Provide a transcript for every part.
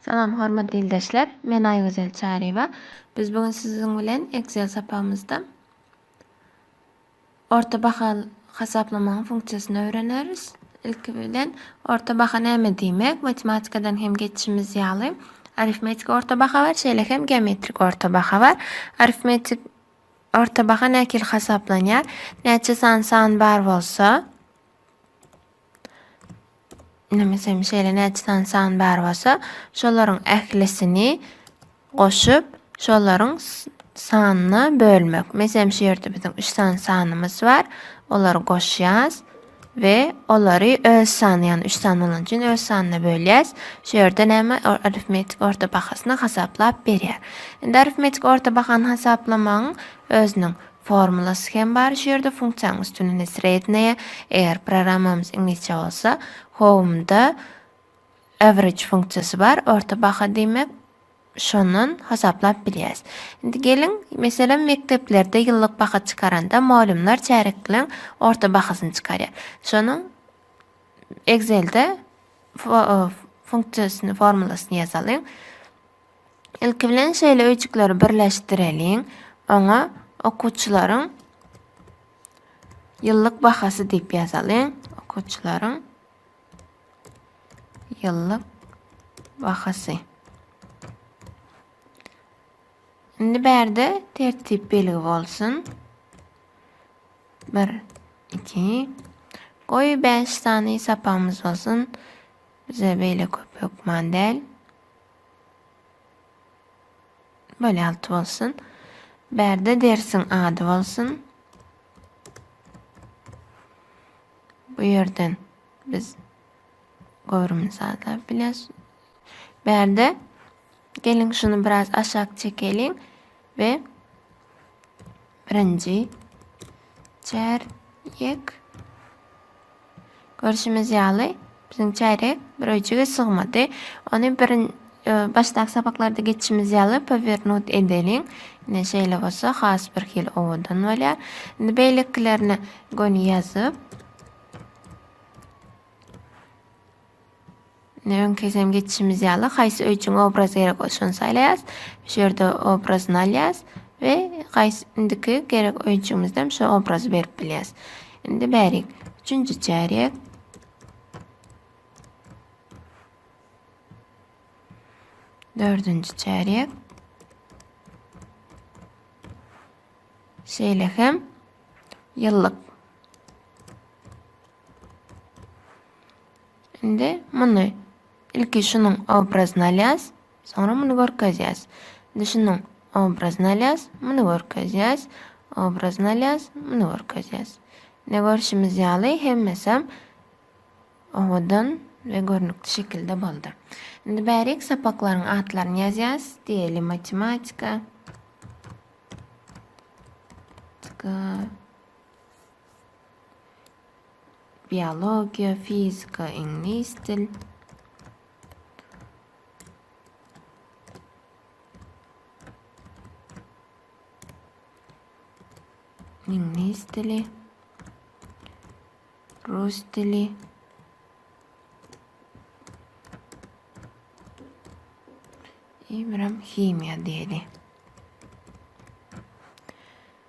Salam hormatly ildeşler. Men Aýgözel Çaryýewa. Biz bu gün siziň bilen Excel sapagymyzda Orta baha hasaplamagyň funksiýasyny öwreneris. Ilki bilen, orta baha näme diýmek? Matematikadan hem geçişimiz ýaly, arifmetiki orta baha bar, şeýle hem geometrik orta baha bar. Arifmetik orta baha nähili hasaplanýar? Näçe sany san bar bolsa, Nemesem şeýle näçe sany san bar bolsa, şolaryň ählisini goşup, şolaryň sanyna bölmek. Meselem şu ýerde biziň 3 sany sanymyz bar. Olary goşýas we olary öz sany, ýagny 3 sany bolan üçin öz sanyna bölýäs. Şu ýerde näme? Arifmetik orta bahasyny hasaplap berýär. Indi arifmetik orta bahany hasaplamagyň özüniň Formulasy hem bar şu ýerde funksiýanyň üstünini sredneye, eger programmamyz iňlisçe bolsa, home-da average funksiýasy bar, orta baha diýmek, şondan hasaplap bilýäs. Indi geliň, meselem, mekdeplerde ýyllyk baha çykaranda mugallymlar çärekleň orta bahasyny çykarýar. Şonuň Excel-de funksiýasyny, formulasyny ýazalyň. Ilki bilen şeýle öýjükleri birleşdireliň. Oňa okuwçylaryň ýyllyk bahasy diýip ýazalyň. Okuwçylaryň ýyllyk bahasy. Indi bärde tertip belgi bolsun. 1 2 Goý 5 sany sapamyz bolsun. Bize beýle köp hökman däl. Bolýalt bolsun. Bärde dersiň ady bolsun. Bu ýerden biz göwrümini sazlap biles. Bärde geliň şuny biraz aşak çekeliň we Birinji çärýek. Görşümiz ýaly, biziň çärýek bir öýjüge sygmady. Ony birin e, başdaky sapaklarda geçişimiz ýaly powernut edeliň. Ine şeýle bolsa has bir hili owadan bolýar. Indi beýlekilerini göni ýazyp Ine öňküsem geçişimiz ýaly haýsy öý üçin obraz gerek bolsa şony saýlaýas. Şu ýerde obrazyny alýas we haýsy indiki gerek öýjügimizden şu obrazy berip bilýäs. Indi bärik. Üçünji çärýek. Dördünji çärýek. Şeýle hem ýyllyk. Indi muny ilki şunuň obrazyny alýas, soňra muny görkezýäs. Indi şunuň obrazyny alýas, muny görkezýäs, obrazyny alýas, muny görkezýäs. Ne görşümiz ýaly hemmesem owadan we görnükli şekilde boldy. Indi bärik sapaklaryň atlaryny ýazýas. Diýeli matematika. Tika. Biologiýa, fizika, iňlis dil. Iňlis dili. Rus dili. Ibram himiýa diýeli.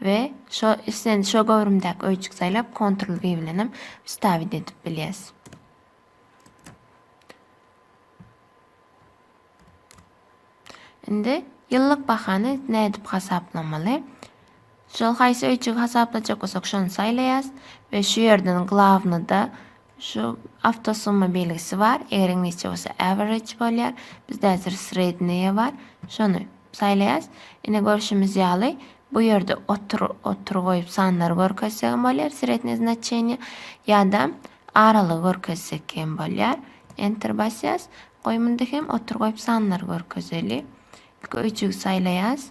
We şo islendik şo göwrümdäki öýjük saýlap kontrol y bilen hem wstavit edip bilýäs. Indi ýyllyk bahany nädip hasaplamaly? Şol haýsy öýjügi hasaplajak bolsak şony saýlaýas we şu ýerden glavnyda Şu awto summa belgisi bar. Eger iňlisçe bolsa average bolýar. Bizde häzir sredneye bar. Şony saýlaýas. Ine görşümiz ýaly bu ýerde otur otur goýup sanlary görkezsek hem bolýar srednye znaçenýe ýa-da aralygy görkezsek hem bolýar. Enter basýas. Goý munda hem otur goýup sanlary görkezeli. Ilki öýjügi saýlaýas.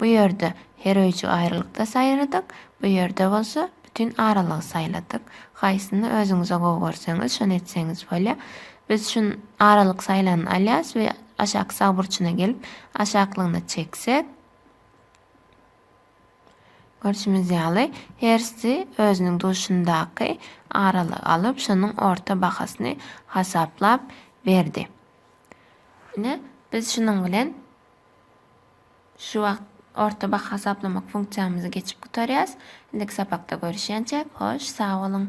Bu ýerde her öýjük aýrylykda saýradyk, bu ýerde bolsa bütin aralygy saýladyk. Haýsyny özüňize gowy görseňiz, şony etseňiz bolýar. Biz şu aralyk saýlanyny alýarys we aşaky sag burçuna gelip, aşaklygyna çeksek, görşümiz ýaly, hersi özüniň duşundaky aralygy alyp, şonuň orta bahasyny hasaplap berdi. Ine, biz şunuň bilen Şu wagt orta baha hasaplamak funksiýamyzy geçip gutarýas. Indiki sapakda görüşýänçäk hoş sag boluň.